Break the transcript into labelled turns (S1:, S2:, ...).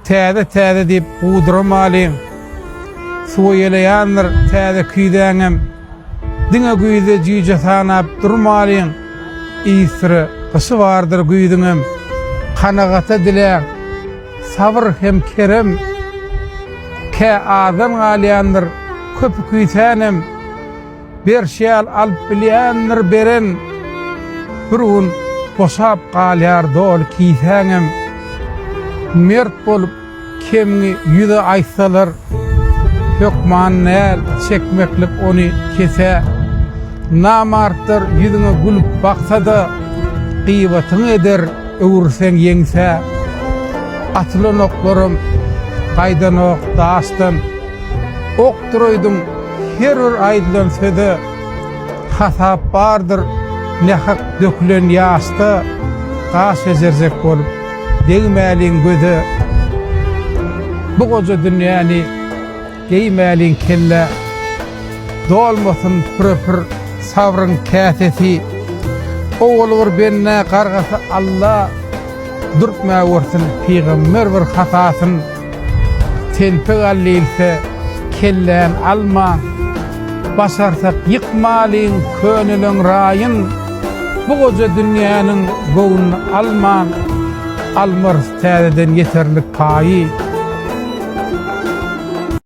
S1: Täze täze diýip guduramalyň, Suwa ýeleýändir täze küýzäňem, Diňe güýzde jüýje sanap durmalyň, Yzsyry gyşy bardyr güýzüňem. Kanagata diläň, sabyr hem kerem, Kä azdan galýandyr köpi küýsänem. Berşýal alyp bilýändir beren, Bir gün boşap galýar doly kisäňem. Mert bolup kemňi ýüze aýtsalar, Hökman näl çekmeklik ony kesä. Namartlar ýüzüňe gülüp baksa-da, Gybatyňy eder öwürseň ýeňsä. Atylan oklaram gaýdanok daşdan. aýdyp duraýdym, her bir aýdylan söze hasap bardyr, nähak dökülen ýaşda gaş bejerjek bolup, degmäliň göze, bu goja dünýäni geýmäliň kellä, dolmasyn püre-pür sabryň käsesi, owaly bir bendä gargasy Alla, dürtmäwersin pygamber bir hatasyn. Telpek al diýilse, kelläm alma, Başarsak ýykmalyň könelen raýyn, Bu goja dünýäniň göwnüni alma, Almarys täzeden ýeterlik paýy.